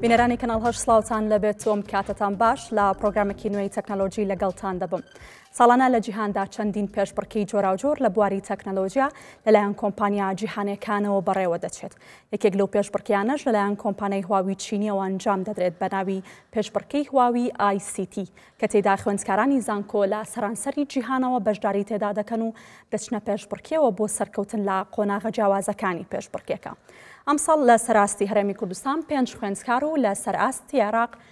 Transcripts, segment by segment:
بینەرانی کەناڵ هەش سلااوان لەبێت تۆم کاتتان باش لە پرۆگرامێکی نوێی تەکنەلۆژی لەگەڵتان دەبم. ساڵانە لە جیهاندا چەندین پێشبڕکی جۆراوجۆر لە بواری تەکنەلۆژیا لەلایەن کۆمپانیا جیهانەکانەوە بەڕێوە دەچێت. یەکێک لەو پێشبڕکێیانەش لەلایەن کۆمپانیای هواوی چینییەوە ئەنجام دەدرێت بە ناوی پێشبڕکێی هواوی ئای سی تی کە تێیدا خوێندکارانی زانکۆ لە سەرانسەری جیهانەوە بەشداری تێدا دەکەن و دەچنە پێشبڕکێوە بۆ سەرکەوتن لە قۆناغە جیاوازەکانی پێشبڕکێکە. ئەمساڵ لە سەر ئاستی هەرێمی کوردستان پێنج خوێندکار و لە سەر ئاستی عێراق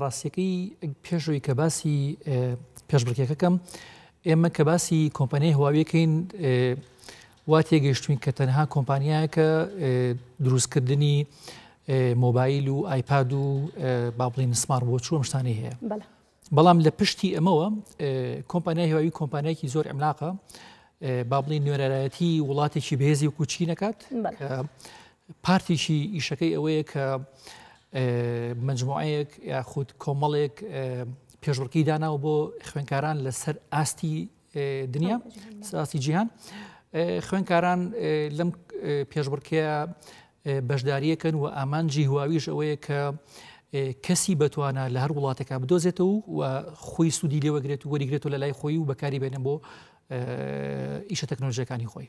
ڕاستیەکەی پێش ئەوی کە باسی پێشبڕکێکە کەم ئێمە کە باسی کۆمپانیای هواویەکەین وا تێگەیشتوین کە تەنها کۆمپانیایەکە دروستکردنی مۆبایل و ئایپاد و با بڵین سمار بۆ چووم شتانی هەیە بەڵام لە پشتی ئەمەوە کۆمپانیای هواوی کۆمپانیایکی زۆر ئەملاقە با بڵین نوێرەرایەتی وڵاتێکی بێزی و کوچی نەکات پارتیشی ئیشەکەی ئەوەیە کە مجموعەیەک یاخود کۆمەڵێک پێشبڕکی داناوە بۆ خوێنکاران لەسەر ئاستی دنیا ساسی جیهان خوێنکاران لەم پێشبڕکەیە بەشداریەکەن و ئامانجی هواویش ئەوەیە کە کەسی بەتوانە لە هەر وڵاتەکە بدۆزێتەوە و خۆی سوودی لێوەگرێت و وەریگرێت و لە لای خۆی و بەکاری بێنە بۆ ئیشە تەکنۆلژەکانی خۆی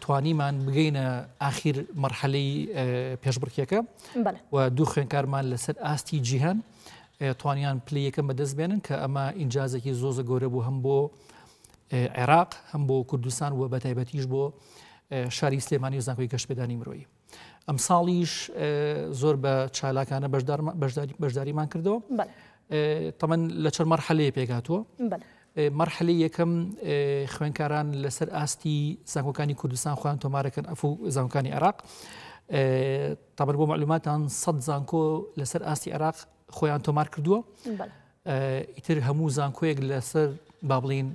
توانیمان بگەینە ئاخیر مەرحەلەی پێشبڕکێەکە و دوو خوێنکارمان لەسەر ئاستی جیهان توانیان پلی یەکەم بەدەست بێنن کە ئەمە ئینجازێکی زۆزە گەورە بوو هەم بۆ عێراق هەم بۆ کوردستان و بەتایبەتیش بۆ شاری سلێمانی و زانکۆی گەشتپێدانی مرۆیی ئەمساڵیش زۆر بە چالاکانە بەشداریمان کردەوە تەمەەن لە چەند مەرحەلەیە پێکاتوە مەرحلی یەکەم خوێنکاران لەسەر ئاستی زانکۆکانی کوردستان خۆیان تۆمارەکەن ئەف و زانکانی عراق تابەر بۆ معلوماتان سە زانکۆ لەسەر ئاستی عراق خۆیان تۆمار کردووە ئیتر هەموو زانکۆیەک لەسەر با بڵین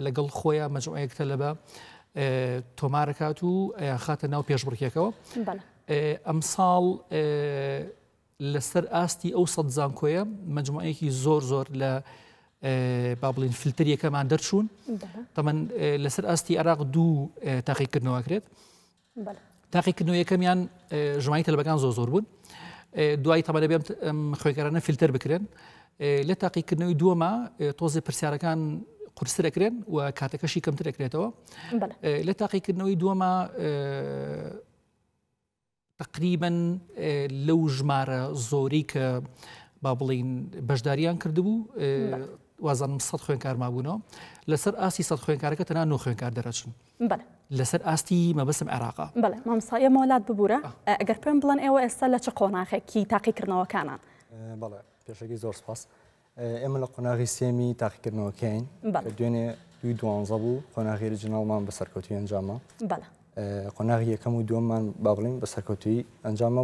لەگەڵ خۆیان مەجموعەیەک تەلەبە تۆمارەکات و ئەیان خاتە ناو پێشبڕکێکەوە ئەمساڵ لەسەر ئاستی ئەو سەد زانکۆیە مەجموعەیەکی زۆر زۆر لە با بڵین فلتەریەکەمان دەرچوون تەمەەن لەسەر ئاستی عراق دوو تاقیکردنەوەکرێت تاقیکردنەوە یەکەمیان ژمانی تەلبەکان زۆ زۆر بوون دوای تەبەە بێم خوێگەرانە فیلتەر بکرێن لە تاقیکردنەوەی دووەمە تۆزی پرسیارەکان قورسرەکرێن و کاتەکەشی کەمتر دەکرێتەوە لە تاقیکردنەوەی دووەمە تقریبن لەو ژمارە زۆری کە با بڵین بەشداریان کردبوو وازانم سە خوێنکارمابوونەوە لەسەر ئاسی سە خوێنکارەکە تەنا نۆ خوێنکار دەرەچن بەڵێ. لەسەر ئاستی مەبەستم عێراقە. بەڵێ مامۆستا ئێمە وەلات ببورە ئەگەر پێم بڵێن ئێوە ئێستا لە چ قۆناخێکی تاقیکردنەوەکانان؟ بەڵێ پێشەکی زۆر سپاس ئێمە لە قۆناغی سێمی تاقیکردنەوەکەین دوێنێ دوی دوانزە بوو قۆناغی رجناڵمان بە سەرکەوتوی ئەنجامە بەڵێ قۆناغی یەکەم و دووەممان با بڵین بە سەرکەوتوی ئەنجامە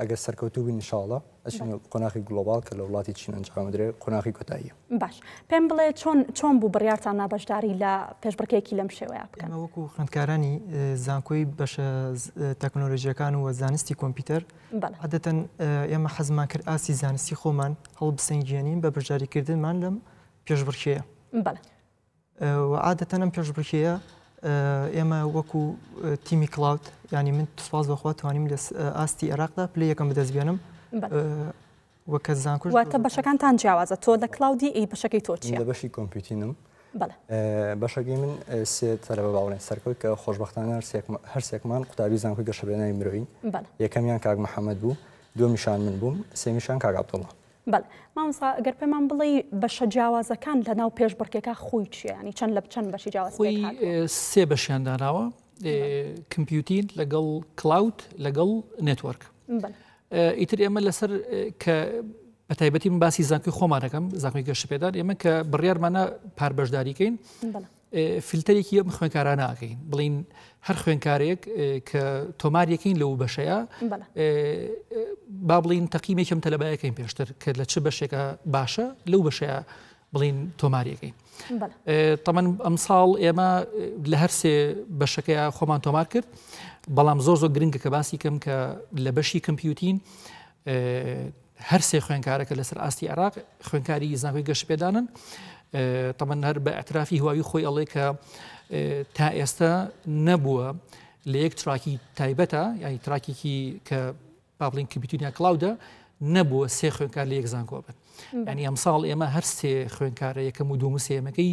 ئەگەر سەرکەوتوو بین انشاءاللە ئەچینە قۆناخی گلۆباڵ کە لە وڵاتی چین ئەنجام بدرێت قۆناخی کۆتاییە. باش پێم بڵێ چۆن چۆن بوو بڕیارتان نا بەشداری لە پێشبڕکێیەکی لەم شێوەیە بکەن؟ ئێمە وەکو خوێندکارانی زانکۆی بەشە تەکنۆلۆژییەکان و زانستی کۆمپیوتەر عادەتەن ئێمە حەزمان کرد ئاستی زانستی خۆمان هەڵبسەنگێنین بە بەشداریکردنمان لەم پێشبڕکێیە. وە عادەتەن ئەم پێشبڕکێیە ئێمە وەکو تیمی کلااوت ینی من سپاس بەخوا توانیم لە ئاستی عێراقدا پلی یەکەم بدەست بێنم وەکە زانکوش واتە بەشەکانتان جیاوازە تۆ لە کلااودی ئی بەشەکەی تۆ چی لە بەشی کۆمپیوتینم بەشەکەی من سێ تەرە بە باڵێن سەرکەوت کە خۆشببختانە هەرسێکمان قوتابی زانکوی گەشەێنای مرۆین یەکەمیان کاک محەممەد بوو دومیشان من بووم سێمیشان کاگابدوڵە بەڵێ مامۆستا گەر پێمان بڵێی بەشە جیاوازەکان لە ناو پێش بڕکێکا خۆی چیە ینی چەند لە چەند بەشی جیاواز خۆی پێکهات سێ بەشیان داناوە کمپیوتین لەگەڵ کلااوت لەگەڵ نێتوەرک بەڵێ ئیتر ئێمە لەسەر کە بە تایبەتی من باسی زانکوی خۆمانەکەم زانکوی گەشت پێدان ئێمە کە بڕیارمانە پار بەشداریکەین بەڵێ فلتەرێکی ئەم خوێنکارانە ئاکەین بڵین هەر خوێنکارێک کە تۆمار یەکەین لەو بەشەیە با بڵین تەقیمێکم تەلەبایەکەین پێشتر کە لە چ بەشێکە باشە لەو بەشەیە بڵین تۆماریەکەین تەمەن ئەم ساڵ ئێمە لە هەر سێ بەشەکەی خۆمان تۆمار کرد بەڵام زۆر زۆر گرنگە کە باسی کەم کە لە بەشی کەمپیوتین هەر سێ خوێنکارەکە لەسەر ئاستی عێراق خوێنکاری زانکۆی گەشتپێدانن تەمەەن هەر بە ئەترافی هواوی خۆی ئەڵێ کە تا ئێستا نەبووە لە یەک تراکی تایبەتە یعنی تراکێکی کە بابلین کبیتونیا کلااودە نەبووە سێ خوێنکار لە یەک زانکۆ بن ینی ئەمساڵ ئێمە هەر سێ خوێنکارە یەکەم و دوم سێمەکەی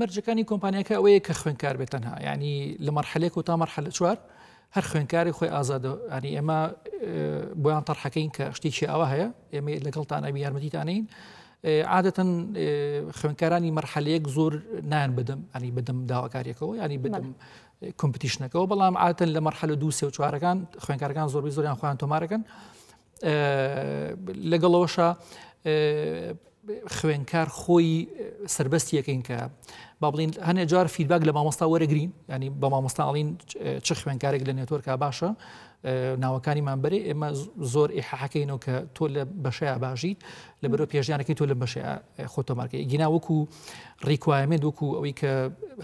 مەرجەکانی کۆمپانیاکە ئەوەیە کە خوێنکار بێت تەنها ینی لە مەرحلێک و تا مەرحلە چوار هەر خوێنکاری خۆی ئازادە ینی ئێمە بۆیان تەرحەکەین کە شتێکی ئاوا هەیە ئێمە لەگەڵتان ئەبی یارمەتیتانین عادەتەن خوێنکارانی مەرحەلەیەک زۆر نان بدەم ئەنی بدەم داواکاریەکەەوە ینی بدەم کۆمپتیشنەکەەوە بەڵام عادەن لە مەرحەلە دو سێ و چوارەکان خوێنکارەکان زۆربی زۆریان خۆیان تۆمارەکەن لەگەڵ ئەوەشە خوێنکار خۆی سربەست یەکەین کە با بڵین هەنێ جار فیدباک لە مامۆستا وەرەگرین ینی بە مامۆستاڵین چ خوێنکارێک لە نێتۆرکە باشە ناوەکانی مامبەری ئێمە زۆر ئیححەکەینەوە کە تۆ لە بەشەیە باشیت لە بەرەو پێشیانەکەی تۆ لە بەشە خۆتۆمارکە گینا وەکو ڕیکوایمێت وەکو ئەوەی کە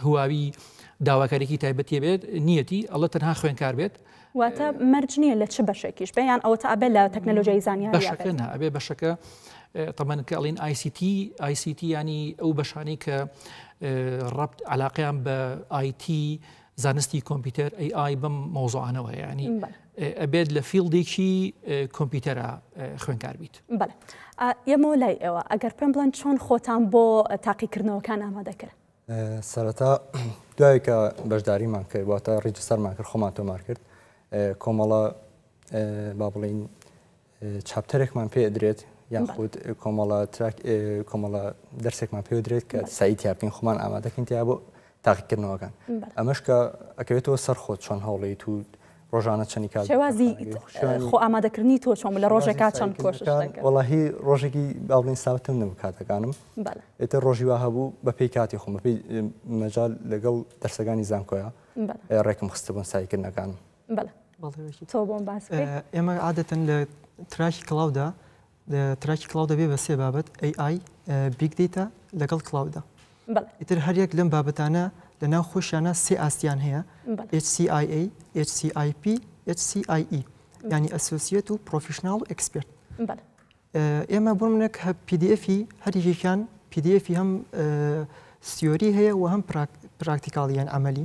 هواوی داواکارێکی تایبەتی بێت نیەتی ئەڵە تەنها خوێنکار بێت واتە مەرج نییە لە چ بەشێکیش بێ یان ئەوەتا ئەبێ لە تەکنەلۆژیای زانیاری بێت؟ بەشەکە نا، ئەبێ بەشەکە اه، طبعا کە ئەڵین ICT ICT ینی ئەو بەشانەی کە اه، ڕەبت علاقیان بە IT زانستی کۆمپیوتەر AI بەم مۆزوعانەوە ینی بەڵێ. اه، ئەبێت لە فیلدێکی اه، کۆمپیوتەرە اه، خوێنکار بیت بەڵێ. ئا، یەمەوە لای ئێوە ئەگەر پێم بڵێن چۆن خۆتان بۆ تاقیکردنەوەکان ئامادە کرد؟ سەرەتا دوای کە بەشداریمان کرد واتە ڕیجستەرمان کرد خۆمان تۆمار کرد کۆمەڵە با بڵین چاپتەرێکمان پێ درێت یان خود کۆمەڵە تراک کۆمەڵە دەرسێکمان پێ درێت کە سای تیاپین خۆمان ئامادەکەین تیا بۆ تاقیکردنەوەکان ئەمەش کە ئەکەوێتەوە سەر خۆت چۆن هەوڵیت و ڕۆژانە چەنی کات شێوازی خۆ ئامادەکردنی تۆ چۆن لە ڕۆژێکا چەند کۆشش وڵی ڕۆژێکی باڵین ساوتم نەبوو کاتەکانم ئێتە ڕۆژی وا هەبوو بە پێی کاتی خۆم بەپی مەجال لەگەڵ دەرسەکانی زانکۆە ڕێکم خستبوون سایکردنەکانم تۆ بۆم باس ئێمە عادەتەن لە تراکی کڵاودا تراکی کڵاو دەبێ بە سێ بابەت، AI، Big Data، لەگەڵ کڵاودا. ئیتر هەر یەک لەم بابەتانە لە ناو خۆیشیانا سێ ئاستیان هەیە، HCIA، HCIP، HCIE، یانی ئەسۆسیەت و پرۆفیشناڵ و ئێکسپێرت. ئێمە بۆ منێک پی دی ئێفی هەر یەکێکیان پی دی ئێفی هەم سیۆری هەیە و هەم پراکتیکاڵیان عەمەلی.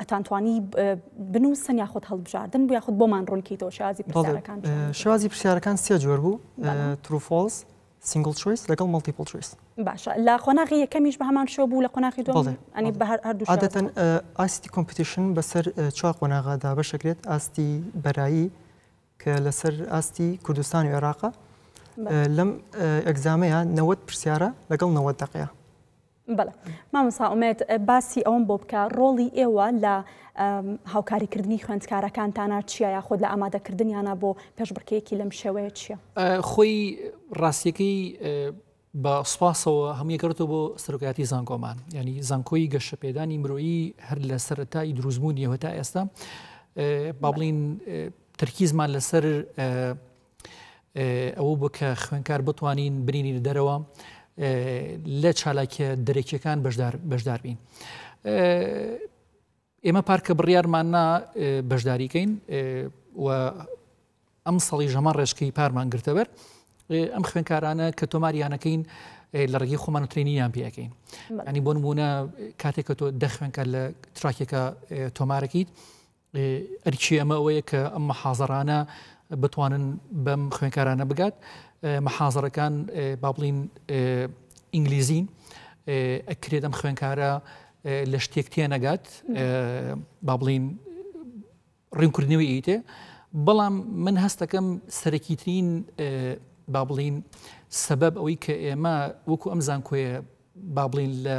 ئەتان توانی بنووسن یاخود هەڵبژاردن بوو یاخود بۆمان ڕوونکەیتەوە شێوازی پرسیارەکان چۆن بوو؟ شێوازی پرسیارەکان سێ جۆر بوو ترو فۆڵس سینگل چویس لەگەڵ مەڵتیپڵ چویس باشە لە قۆناغی یەکەمیش بە هەمان شێوە بوو لە قۆناغی دووەم بەڵێ. ئەنی بە هەر- هەردوو شێوە. عادەتەن ئە، ئاستی کۆمپیتیشن بەسەر ئە، چوار قۆناغا دابەش دەکرێت ئاستی بەرایی کە لەسەر ئاستی کوردستان و عێراقە بەڵێ. لەم ئە، ئێگزامەیا نەوەد پرسیارە لەگەڵ نەوەد دەقەیە. بەڵێ مامۆستا ئومێد باسی ئەوم بۆ بکە ڕۆڵی ئێوە لە هاوکاریکردنی خوێندکارەکانتانە چیە یاخود لە ئامادەکردنیانە بۆ پێشبڕکەیەکی لەم شێوەیە چیە خۆی ڕاستیەکەی بە سوپاسەوە هەموویەکەوتە بۆ سەرۆکاتی زانکۆمان ینی زانکۆی گەشە پێدانی مرۆیی هەر لە سەرەتایی دروستبوونیەوە تا ئێستا با بڵین تەرکیزمان لەسەر ئەوە بوو کە خوێنکار بتوانین برینی دەرەوە لە چالاکیە دەرەکیەکان بەشدار بین. ئێمە پارکە بڕیارماننا بەشداریکەین و ئەم سەڵی ژەمان ڕێشکەی پارمان گرتەبەر ئەم خوێنکارانە کە تۆماریانەکەین لە ڕێگەی خۆمان ترینیان پێەکەین ئەنی بۆ نمونە کاتێک کە تۆ دەخوێنکە لە تراکێکە تۆمارەکەیت ئەرکی ئەمە ئەوەیە کە ئەم محازەرانە بتوانن بەم خوێنکارانە بگات محازەرەکان با بڵین ئینگلیزین ئەکرێت ئەم خوێنکارە لە شتێک تێ نەگات با بڵین ڕیمکردنەوەی ئیتێ بەڵام من هەستەکەم سەرەکیترین با بڵین سەبەب ئەوەی کە ئێمە وەکو ئەم زانکۆیە با بڵین لە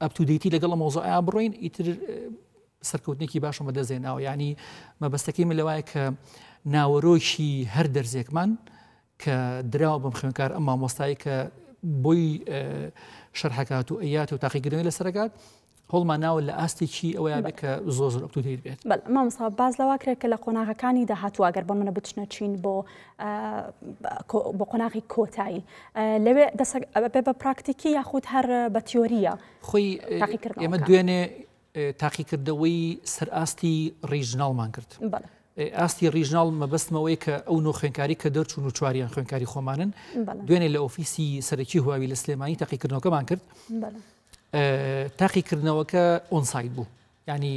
ئەپ تو دەیتی لەگەڵ مۆزۆعیان بڕۆین ئیتر سەرکەوتنێکی باشم بەدەستێناوە ینی مەبەستەکەی من لەوایە کە ناوەرۆکی هەر دەرزێکمان کە دراوە بەم خوێنکار ئەم مامۆستای کە بۆی شەرحکات و ئەیات و تاقیگرنگ لەسەرگات هەڵمان ناوە لە ئاستێکی ئەویان کە زۆ زۆر ئەپتوتیر بێت مامسا باز لەواکرێت کە لە قۆناغەکانی داهاتوو ئەگەر بۆ منە بچنە چین بۆ بۆ قۆناغی کۆتایی لەوێ دەسەک بە پراکتیکی یاخود هەر بە تیۆریە خۆی ئێمە دوێنێ تاقیکردەوەی سەرئاستی ڕیژناڵمان کرد. ئاستی ڕیژناڵ مەبەستمەوەی کە ئەو نۆ خوێنکاری کە دەرچوون و چواریان خوێنکاری خۆمانن دوێنێ لە ئۆفیسی سەرەکی هواوی لە سلێمانی تاقیکردنەوەکەمان کرد تاقیکردنەوەکە ئۆنسایت بوو ینی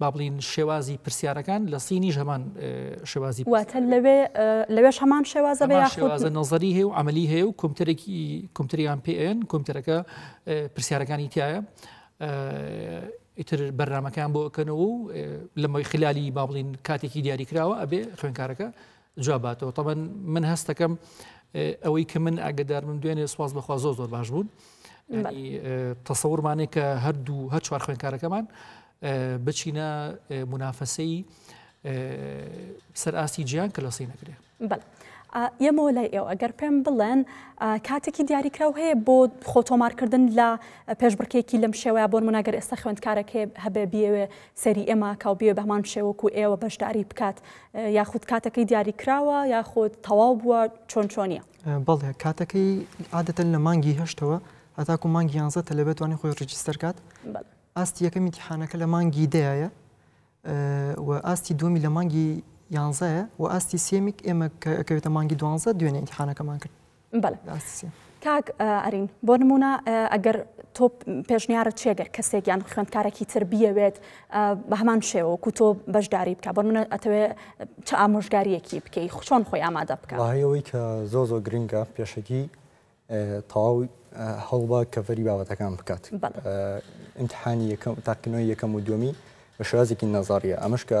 با بڵێین شێوازی پرسیارەکان لە سینیش هەمان شێوازی پرسیار واتە لەوێ لەوێش هەمان شێوازە بە هەمان یاخود شێوازە نەزەری هەیە و عملی هەیە و کۆمپیوتەرێکی کۆمپیوتەریان پێ ئەیەن کۆمپیوتەرەکە ئێ، پرسیارەکانی تایە ئیتر بەرنامەکان بۆ ئەکەنەوە و ئێ، لەمەوەی خلالی با بڵێین کاتێکی دیاری کراوە ئەبێ خوێنکارەکە جواب باتەوە طبعا من هەستەکەم ئەوەی کە من ئاگدار من دوێنێ سواز بەخوا زۆر زۆر باش بوون تەسەورمانێک کە هەردوو هەر چوار خوێنکارەکەمان بچینە منافەسەی سەر ئاستی جیان کە لە سی نەکرێ یەمەوە لای ئێوە گەر پێم بڵێن کاتێکی دیاریکراو هەیە بۆ خۆتۆمارکردن لە پێشبڕکێکی لەم شێوەیە بۆن مناگەر ئێستا خوێندکارەکە هەبێ بیەوێ سەری ئێمە کاو بیە بەهەمان شێوە وەکو ئێوە بەشداری بکات یاخود کاتەکەی دیاری کراوە یاخود تەواو بووە چۆن چۆنیە؟ بەڵێ کاتەکەی عادەتەن لە مانگی هەشتەوە هەتاکو مانگی یانزە تەلەبێتوانی خۆی ڕجیستەر کات ئاستی یەکەم میتیحانەکە لە مانگی دەیە و ئاستی دومی لە مانگی یانزایە و ئاستی سێمیک ئێمە کەوێتە مانگی دوانزە دوێنێ ئینتحانەکەمان کرد بەڵێ ڕاستە کاک ئارین بۆ نموونە ئەگەر تۆ پێشنیارت چێ گەر کەسێک یان خوێندکارێکی تر بیەوێت بە هەمان شێوە کو تۆ بەشداری بکە بۆ منە ئەتەوێ چ ئامۆژگاریەکی بکەی خوچۆن خۆی ئامادە بکە هەیەوەی کە زۆ زۆ گرنگە پێشەکی تەواو هەڵبا کەڤری بابەتەکان بکات ئینتحانی یەکەم تاقینەوەی یەکەم و دومی بە شێوازێکی نەزاریە ئەمەش کە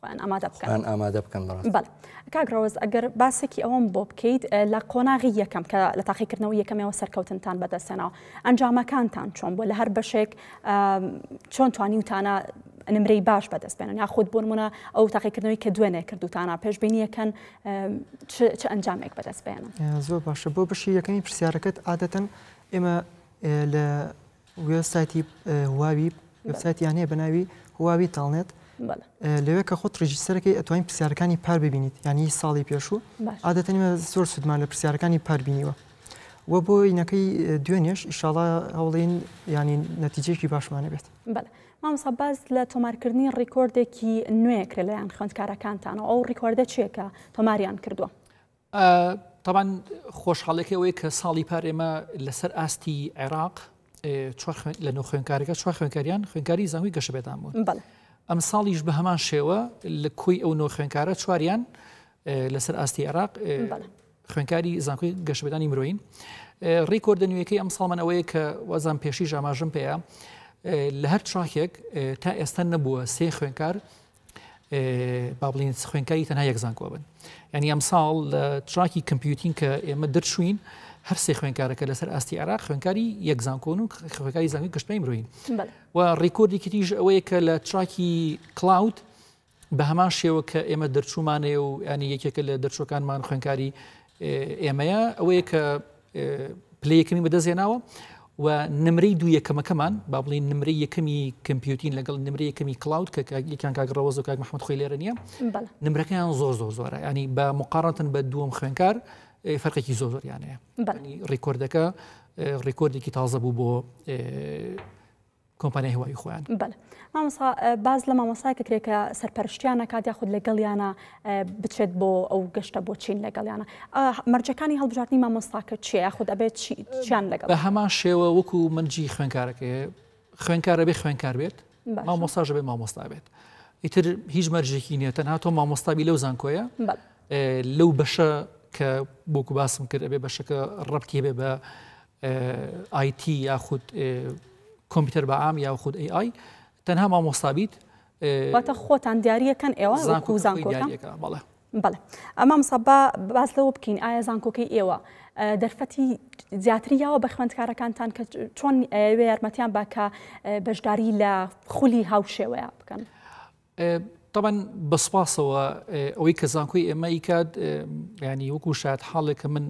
خۆیان ئامادە بکەن خۆیان ئامادە بکەن بەڕاستی. بەڵێ کاک ڕەوەز ئەگەر باسێکی ئەوەم بۆ بکەیت اه، لە قۆناغی یەکەم کە لە تاقیکردنەوەی یەکەمەوە سەرکەوتنتان بەدەستێنەوە ئەنجامەکانتان چۆن بووە لە هەر بەشێک اه، چۆن توانیوتانە نمرەی باش بەدەست بێنن یاخود بۆنمونە ئەو تاقیکردنەوەی کە دوێنێ کردوتانە پێشبینیەکەن اه، چ چ ئەنجامێک بەدەست بێنن. زۆر باشە بۆ بەشی یەکەمی پرسیارەکەت عادەتەن ئێمە اه، لە وێب سایتی هواوی وێب سایتیان هەیە بە ناوی هواوی تاڵنێت بەڵێ لەوێ کە خۆت ڕیژیسەرەکەی ئەتوانین پرسیارەکانی پار ببینیت یانی ساڵی پێشوو باش عادەتەن ئێمە زۆر سوودمان لە پرسیارەکانی پار بینیوە و بۆ ئینەکەی دوێنێش ئیشاڵا هەوڵین ینی نەتیجێکی باشمانە بێت بەڵێ مامسا باز لە تۆمارکردنی ڕیکۆردێکی نوێکرێ لەیان خوێندکارەکانتانەوە ئەو ڕیکۆردە چێکە تۆماریان کردووە تەبان خۆشحاڵێکی ئەوەیە کە ساڵی پار ئێمە لەسەر ئاستی عێراق لە نۆ خوێنکارەکە چوار خوێنکاریان خوێنکاری زانوی گەشە بێدان بوون ئەم ساڵیش بە هەمان شێوە لە کۆی ئەو نۆ خوێنکارە چواریان لەسەر ئاستی عێراق خوێنکاری زانکۆی گەشتبدانی مرۆین ڕیکۆردە نوێەکەی ئەم ساڵمان ئەوەیە کە وەزان پێشی ژاماژم پێەیە لە هەر چاکێک تا ئێستا نەبووە سێ خوێنکار با بڵین خوێنکاری تەنها یەک زانکۆ بن ینی ئەمساڵ لە تراکی کمپیوتین کە ئێمە دەرچوین هەرسێ خوێنکارەکە لەسەر ئاستی عراق خوێنکاری یەک زانکۆن و خوێنکاری زانانی گشتپی مرۆین و ڕیکۆردی کریژ ئەوەیە کە لە تراکی کلااود بە هەمان شێوە کە ئێمە دەرچوومانەیە و ینی یەکێکە لە دەرچوەکانمان خوێنکاری ئێمەیە ئەوەیە کە پلەی یەکەمی بەدەست هێناوە و نمرەی دوو یەکەمەکەمان با بڵین نمرەی یەکەمی کمپیوتین لەگەڵ نمرە یەکەمی کلااود کە کاگیکان کاگڕەوەز و کاک محمد خۆی لێرە نیە نمرەکەیان زۆر زۆر زۆرە ینی بە مقارەتن بە دووەم خوێنکار فەرقێکی زۆر زۆریانەیە ڕیکۆردەکە ڕیکۆردێکی تازە بوو بۆ کۆمپانیای هەواوی خۆیان. بەلێ مامۆستا باس لە مامۆستایەک کرێ کە سەرپەرشتیان نەکات یاخود لەگەڵیانە بچێت بۆ ئەو گەشتە بۆ چین لەگەڵیانە مەرجەکانی هەڵبژاردنی مامۆستاکە چیە یاخود ئەبێت چیان لەگەڵ بە هەمان شێوە وەکو منجی خوێنکارەکە خوێنکارە بێ خوێنکار بێت مامۆستاژە بێ مامۆستا بێت ئیتر هیچ مەرجێکی نیە تەنها تۆ مامۆستابی لەو زانکۆیە لەو بەشە کە بۆکو باسم کرد ئەبێ بەشەکە ڕەتی بێ بە ئای تی یاخود کۆمپیوتەر بە عام یاخود ئەی ئای تەنها مامۆستا بیت واتە خۆتان دیارریەکەن ئێوە زانکو زانکۆکە بەڵێ بەڵێ ئەمە مسەبا باز لەوە بکەین ئایا زانکۆکەی ئێوە دەرفەتی زیاتری یاوە بە خوێندکارەکانتان کە چۆن ئەوێ یارمەتیان باکە بەشداری لە خولی هاوشێوەیە بکەن. تەبەن بە سوپاسەوە ئەوەی کە زانکۆی ئێمە ئیکات ینی وەکو شاد حاڵێک کە من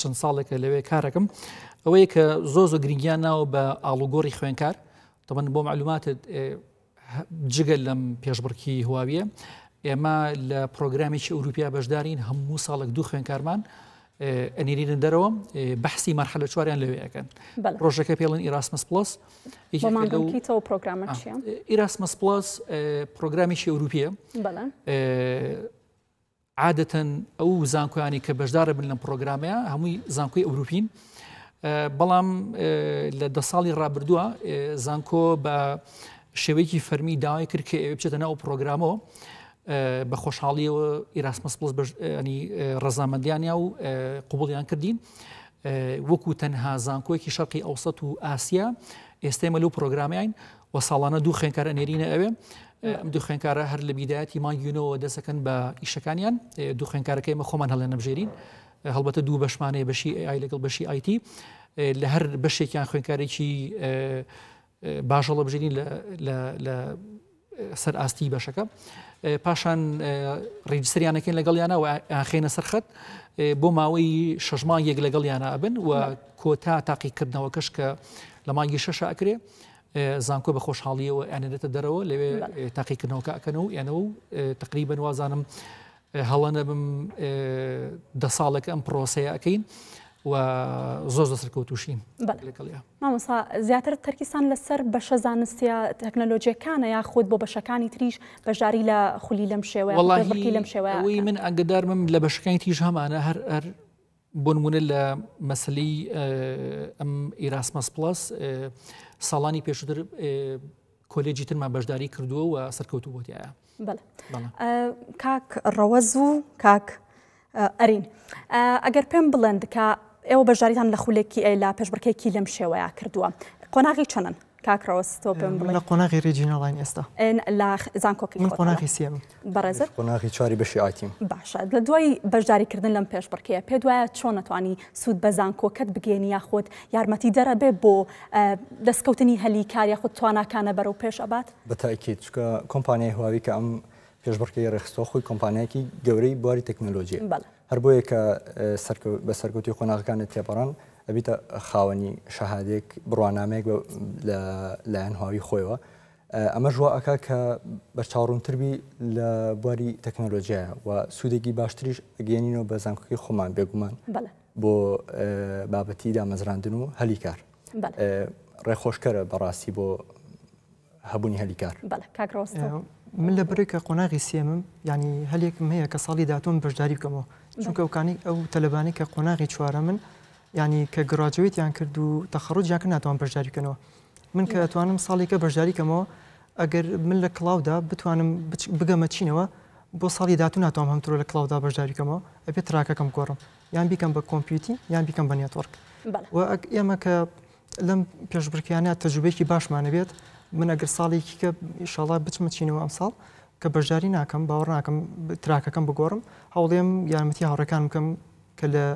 چەند ساڵێکە لەوێ کارەکەم ئەوەیە کە زۆر زۆ گرنگیان ناوە بە ئاڵوگۆڕی خوێنکار تەبەن بۆ معلوماتت جگە لەم پێشبڕکی هواویە ئێمە لە پرۆگرامێکی ئەوروپیا بەشدارین هەموو ساڵێک دوو خوێنکارمان ئەنیرینە دەرەوە بەحسی مەرحەلە چواریان لەوێ ئەکەن ڕۆژەکە پێڵن ئیراسمس پلس ئیراسمس پلس پرۆگرامێکی ئەوروپیە عادەتەن ئەو زانکۆیانی کە بەشدارە بن لەم پرۆگرامەیە هەمووی زانکۆی ئەوروپین بەڵام لە دە ساڵی ڕابردووە زانکۆ بە شێوەیەکی فەرمی داوای کرد کە ئێوە بچێتە ناو پرۆگرامەوە بە خۆشحاڵیەوە ئیراسمەس پڵس بەش ینی ڕەزامەندیانیا و قوبڵیان کردین وەکو تەنها زانکۆیەکی شەرقی ئەوسەت و ئاسیا ئێستێمە لەو پرۆگرامیین و ساڵانە دوو خوێنکارە نێرینە ئەوێ ئەم دوو خوێنکارە هەر لە بیدایەتی مانگیونەوە دەسەکەن بە ئیشەکانیان دوو خوێنکارەکەی مە خۆمان هەڵێ نەبژێرین هەڵبەتە دوو بەشمانەیە بەشی ئای لەگەڵ بەشی ئایتی لە هەر بەشێکیان خوێنکارێکی باش هەڵە بژێنین لە سەر ئاستی بەشەکە پاشان ڕیجسریانەکەین لەگەڵیانە و ئاخێنە سەرخەت بۆ ماوەی شەش مانگ یەک لەگەڵیانە ئەبن و کۆتا تاقیکردنەوەکەش کە لە مانگی شەش ئەکرێ زانکۆ بە خۆشحاڵیەوە ئەنێتە دەرەوە لەوێ تاقیکردنەوەکە ئەکەن و ئەنە و تقریبن وازانم هەڵە نەبم دە ساڵێک ئەم پرۆسەیە ئەەکەین و زۆر زە سەرکەوتوشین مامۆسا زیاتر تەرکیسان لەسەر بەشە زانستە تەکنەلۆجیەکانە یا خودت بۆ بەشەکانی تریش بەشداری لە خولی لەم شێوەیەڵی لەم شێوەیەوەی من ئەگەدارمم لە بەشەکانی تیژ هەمانە هەر هەر بۆنمونە لە مەسەلەی ئەم ئیراسمەس پلس ساڵانی پێشتر کۆلێجی ترمان بەشداری کردووە و سەرکەوتو بۆتیایە کاک ڕەوەز و کاک ئەرین ئەگەر پێم بڵێن دکە ئێوە بەشداریتان لە خولێکی ئەی لا پێشبڕکێکی لەم شێوەیە کردووە قۆناغی چەنن کاک ڕەوەز تۆ پێم بڵێ. من لە قۆناغی ریجیناڵاین ئێستا. لە زانکۆکەی خۆتانە. من قۆناغی سێمم. بەڕێزت؟ من قۆناغی چواری بەشی ئایتیم. باشە لە دوای بەشداری کردن لەم پێشبڕکێیە پێت وایە چۆن ئەتوانی سوود بە زانکۆکەت بگەیەنی یاخود یارمەتیدەر ئەبێ بۆ دەستکەوتنی هەلی کار یاخود تواناکانە بەرەو پێش ئەبات؟ بە تەئکید چونکە کۆمپانیای هواوی کە ئەم پێشبڕکێی ڕێکخستووە خۆی کۆمپانیایەکی گەورەی بواری تەکنەلۆجییە. بەڵێ. هەر بۆیە کە بە سەرکەوتووی قۆناغەکانت تێپەڕان، ئەبیتە خاوەنی شەهادەیەک، بڕوانامەیەک لە لایەن هواوی خۆیەوە. ئەمەش وا ئەکا کە بەرچاوڕوونتر بی لە بواری تەکنەلۆجیایە و سوودێکی باشتریش ئەگەیەنینەوە بە زانکۆکەی خۆمان بێگومان بۆ بابەتی دامەزراندن و هەلی کار. ڕێخۆشکەرە بەڕاستی بۆ هەبوونی هەلی کار. بەڵێ کاک ڕۆستم. من لە بەرێک کە قۆناغی سێمم یانی هەلێکم هەیە کە ساڵی داهاتووم بەشداری بکەمەوە چونکە ئەوکانی ئەو تەلەبانەی کە قۆناغی چوارەمن یانی کە گڕاجوێتیان کرد و تەخەڕوجیان کە ناتوان بەشداری بکەنەوە من کە توانم ساڵێکە بەشداری کەمەوە ئەگەر من لە کڵاودا بتوانم بگەمە چینەوە بۆ ساڵی داهاتوو ناتوانم هەمترۆ لە کڵاودا بەشداری کەمەوە ئەبێت تراکەکەم گۆڕم یان بیکەم بە کۆمپیوتی یان بیکەم بە نێتۆرک بەڵێ. و ئەگ ئێمە کە لەم پێشبڕکێیانە تەجروبەیەکی باشمان هەبێت، من ئەگەر ساڵێکی کە ئیشاڵا بچمە چینەوە ئەمساڵ کە بەشداری ناکەم باوەڕ ناکەم تراکەکەم بگۆڕم هەوڵێم یارمەتی هاوڕەکان بکەم کە لە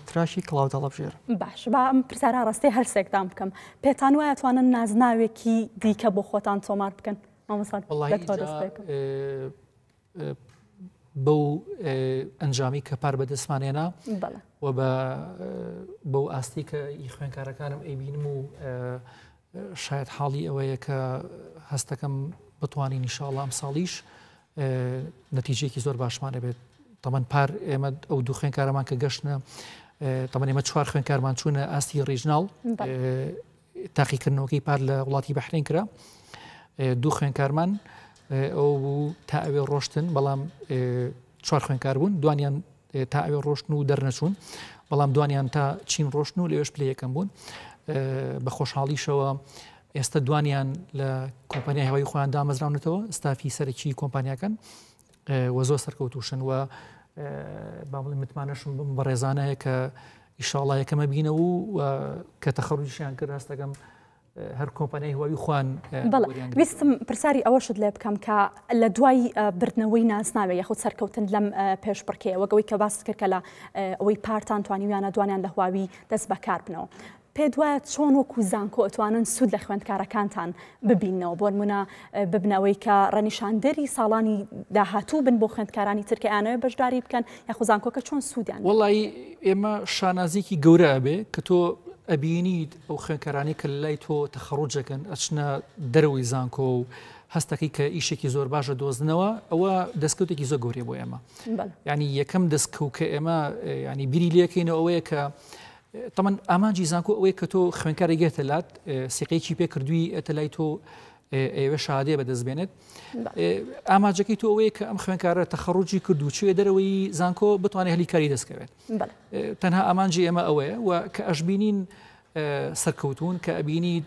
تراشی کڵاو دەڵەبژێر باش با ئەم پرسارا ڕستەی هەرسێکدان بکەم پێتان وایە توانن نازناوێکی دیکە بۆ خۆتان تۆمار بکەن مامەسات بەو ئەنجامی کە پار بەدەستمان هێنا و بە بەو ئاستی کە ئی خوێنکارەکانم ئەیبینم و شاید حاڵی ئەوەیە کە هەستەکەم بتوانین نیشاڵ ئەم ساڵیش نەتیجێکی زۆر باشمانە بێت تەمەەن پار ئێمە ئەو دوو خوێنکارەمان کە گەشتە تەمەنێمە چوار خوێنکارمان چوونە ئاستی ڕیژناڵ تاقیکردنەوەکەی پار لە وڵاتی بەحرین کرا دوو خوێنکارمان ئەو بوو تا ئەوێ ڕۆشتن بەڵام چوار خوێنکار بوون دوانیان تا ئەوێ ڕۆشتن و دەرنەچوون بەڵام دوانیان تا چین ڕۆشتن و لەوێش پلی یەکەم بوون بە خۆشحاڵیشەوە ئێستا دوانیان لە کۆمپانیای هەوای خۆیان دامەزراونەتەوە ستافی سەرەکی کۆمپانیاکەن وە زۆر سەرکەوتوشن وە با بڵێ متمانەشم بم بەڕێزانەیە کە ئیشاڵە یەکەمە بینە و کە تەخەڕویشیان کرد ڕاستەکەم هەر کۆمپانیای هوای خوان ویستم پرسیاری ئەوەشت لێ بکەم کە لە دوای بردنەوەی نازناوێ یخود سەرکەوتن لەم پێش بڕکەیەوەگەوەی کە باست کرد کە لە ئەوەی پارتان توانیویانە دوانیان لە هواوی دەست بەکار بنەوە پێت وایە چۆن وەکو زانکۆ ئەتوانن سوود لە خوێندکارەکانتان ببیننەوە بۆنمونە ببنە ئەوەی کە ڕەنیشاندەری ساڵانی داهاتوو بن بۆ خوێندکارانی تر کە ئەیانەوێ بەشداری بکەن یاخو زانکۆکە چۆن سوودیان بینێ؟ وەڵایی ئێمە شانازیەکی گەورە ئەبێ کە تۆ ئەبینیت ئەو خوێندکارانەی کە لای تۆ تەخەڕوج ئەکەن ئەچنە دەرەوەی زانکۆ و هەستەکەی کە ئیشێکی زۆر باش دەدۆزنەوە ئەوە دەستکەوتێکی زۆر گەورەیە بۆ ئێمە بەڵێ. یعنی یەکەم دەستکەوت کە ئێمە ینی بیری لێکەینەوە ئەوەیە کە تەمان ئامانجی زانکۆ ئەوەیە کە تۆ خوێنکار ئەگێتە لات سیقەیەکی پێ کردووی ئەتە لای تۆ ئێوە شادێ بەدەست بێنێت ئاماجەکەی تۆ ئەوەیە کە ئەم خوێنکارە تەخەڕوجی کردو چێ دەرەوەی زانکۆ بتوانێت هەلی کاری دەستکەوێت تەنها ئامانجی ئێمە ئەوەیە و کە ئەشببینین سەرکەوتون کە ئەبینیت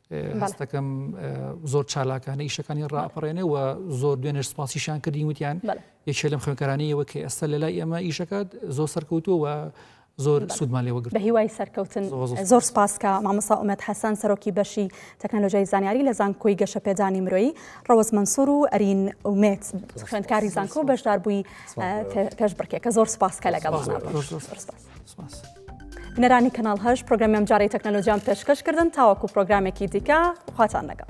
هەستەکەم زۆر چالاکانە ئیشەکانی ڕاپەڕێنێ و زۆر دوێنێش سپاسیشان کردین وتیان یەکێ لەم خوێنکارانەیەوە کە ئێستا لە لای ئێمە ئیشەکات زۆر سەرکەوتووە زۆر سوودمان لێوە بە هیوای سەرکەوتن زۆر سپاسکە مامەسا ئومەت حەسەن سەرۆکی بەشی تەکنەلۆژیای زانیاری لە زانکۆی گەشە پێدانی مرۆیی ڕەوەز منسوور و ئەرین ئومێت خوێندکاری زانکۆ بەشدار بووی پێش بڕکێکە زۆر سپاسکە لەگەڵ بینەرانی کەناڵ هەش پرۆگرامی ئەمجارەی تەکنەلۆجیان پێشکەش کردن تاوەکو پرۆگرامێکی دیکە خواتان لەگەڵ.